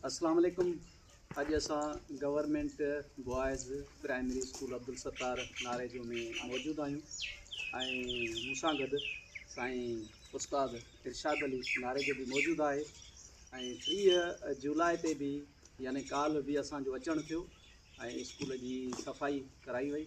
اسلام عليڪم اڄ اسان government boys primary school Abdul Sattar Narejo ۾ موجود آهيون ۽ مون سان گڏ سائين استاد ارشاد علي ناريجو به موجود آهي ۽ ٽيهه جولاء تي به يعني ڪالهه به اسانجو اچڻ ٿيو ۽ اسڪول جي صفائي ڪرائي وئي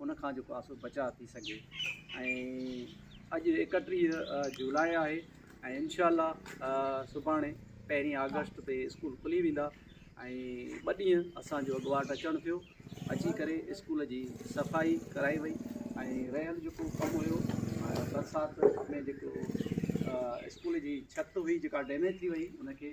ان کان جيڪو آسو بچاء ٿي سگهي ۽ اڄ اڪٽيهه جولاء آهي ۽ انشاء الله سڀاڻي پهرين آگسٽ تي اسڪول کلي ويندا ۽ ٻه ڏينهن اسانجو اڳواٽ اچڻ ٿيو اچي ڪري اسڪول جي صفائي ڪرائي وئي ۽ رهيل جيڪو ڪم هيو برسات ۾ جيڪو اسڪول جي ڇت هئي جيڪا ڊيميج ٿي وئي ان کي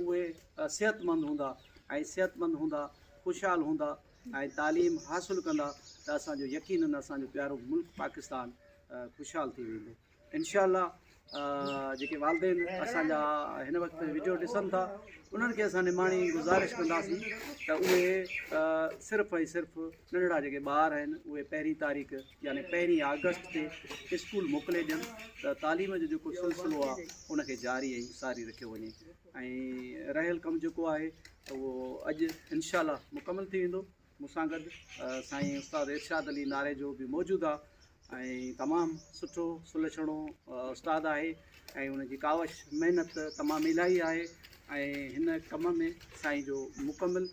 اهي صحتمند هوندا ۽ صحتمند هوندا خوشحال هوندا ۽ تعليم حاصل ڪندا ته اسان جو يقينن اسان جو پيارو ملڪ پاڪستان خوشحال ٿي ويندو انشاء الله جيڪي والدين اسان جا هن وقت ويڊيو ڏسن ٿا انهن کي اسان نماڻي گزارش ڪنداسين ته اهي صرف ۽ صرف ننڍڙا جيڪي ٻار آهن اهي پهرين تاريخ يعني پهرين آگسٽ تي اسڪول موڪلي ڏين ته تعليم جو جيڪو سلسلو آهي ان کي جاري ۽ ساري رکيو وڃي ۽ رهيل ڪم جيڪو آهي اهو اڄ انشاء الله مڪمل ٿي ويندو مون سان گڏ سائين استاد ارشاد علي ناري جو به موجود آهي ۽ تمام سٺو سلڇڻو استاد آهي ۽ ان جي ڪاوش محنت تمام الائي آهي ۽ هن ڪم ۾ سائين جو مڪمل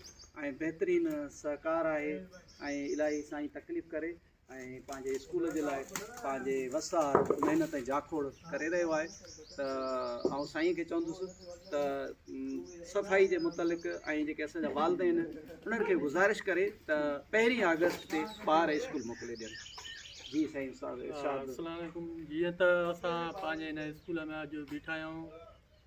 ۽ بهترين سهڪار آهي ۽ الاهي سائين تڪليف ڪري ۽ پنهنجي اسڪول جي لاء پنهنجي وس آهر محنت ۽ جاکوڙ ڪري رهيو آهي ته آئون سائين کي چوندس ته صفائي جي متعلق ۽ جيڪي اسان جا والدين انهن کي گذارش ڪري ته پهرين آگسٽ تي ٻار اسڪول موڪلي ڏين جي سائين صاحب السلام علیکم جيئن ته اسان پنهنجي هن اسڪول ۾ اڄ بيٺا آهيون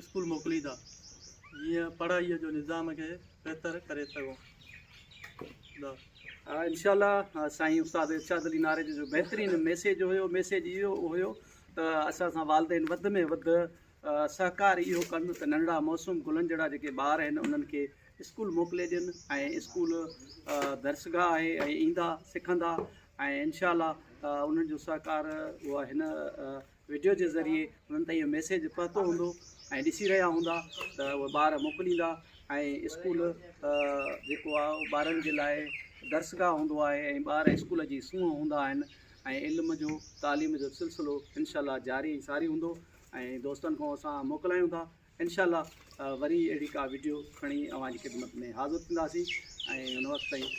اسڪول موڪليندا جيئن پڙهائي جو نظام کي بهتر ڪري سگهون ٿا انشاء الله سائين استاد ارشاد علي ناريجي جو بهترين ميسيج هيو ميسيج اهو هيو ته اسان سان والدين وڌ ۾ وڌ سهڪار اهو ڪن ته ننڍڙا موسم گلن جهڙا جيڪي ٻار آهن انهن کي اسڪول موڪلي ڏين ۽ اسڪول درسگاهه آهي ۽ ايندا سکندا ۽ انشاء الله انهن جو سهڪار اها هن وڊيو جي ذريعي انهن تائين اهو ميسيج پهتو هوندو ۽ ڏسي رهيا هوندا ته اهي ٻار موڪليندا ۽ اسڪول جيڪو آهي اهو ٻارن جي لاء درسگاهه هوندو آهي ۽ ٻار اسڪول جي سونهن هوندا آهن ۽ علم جو تعليم جو سلسلو انشاء الله جاري ۽ ساري هوندو ۽ دوستن کان اسان موڪلايون ٿا انشاء الله وري اهڙي کا وڊيو کڻي اوهان جي خدمت ۾ حاضر ٿينداسين ۽ ان وقت تائين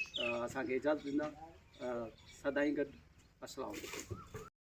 اسان کي اجازت ڏيندا سدائين گڏ السلام علیکم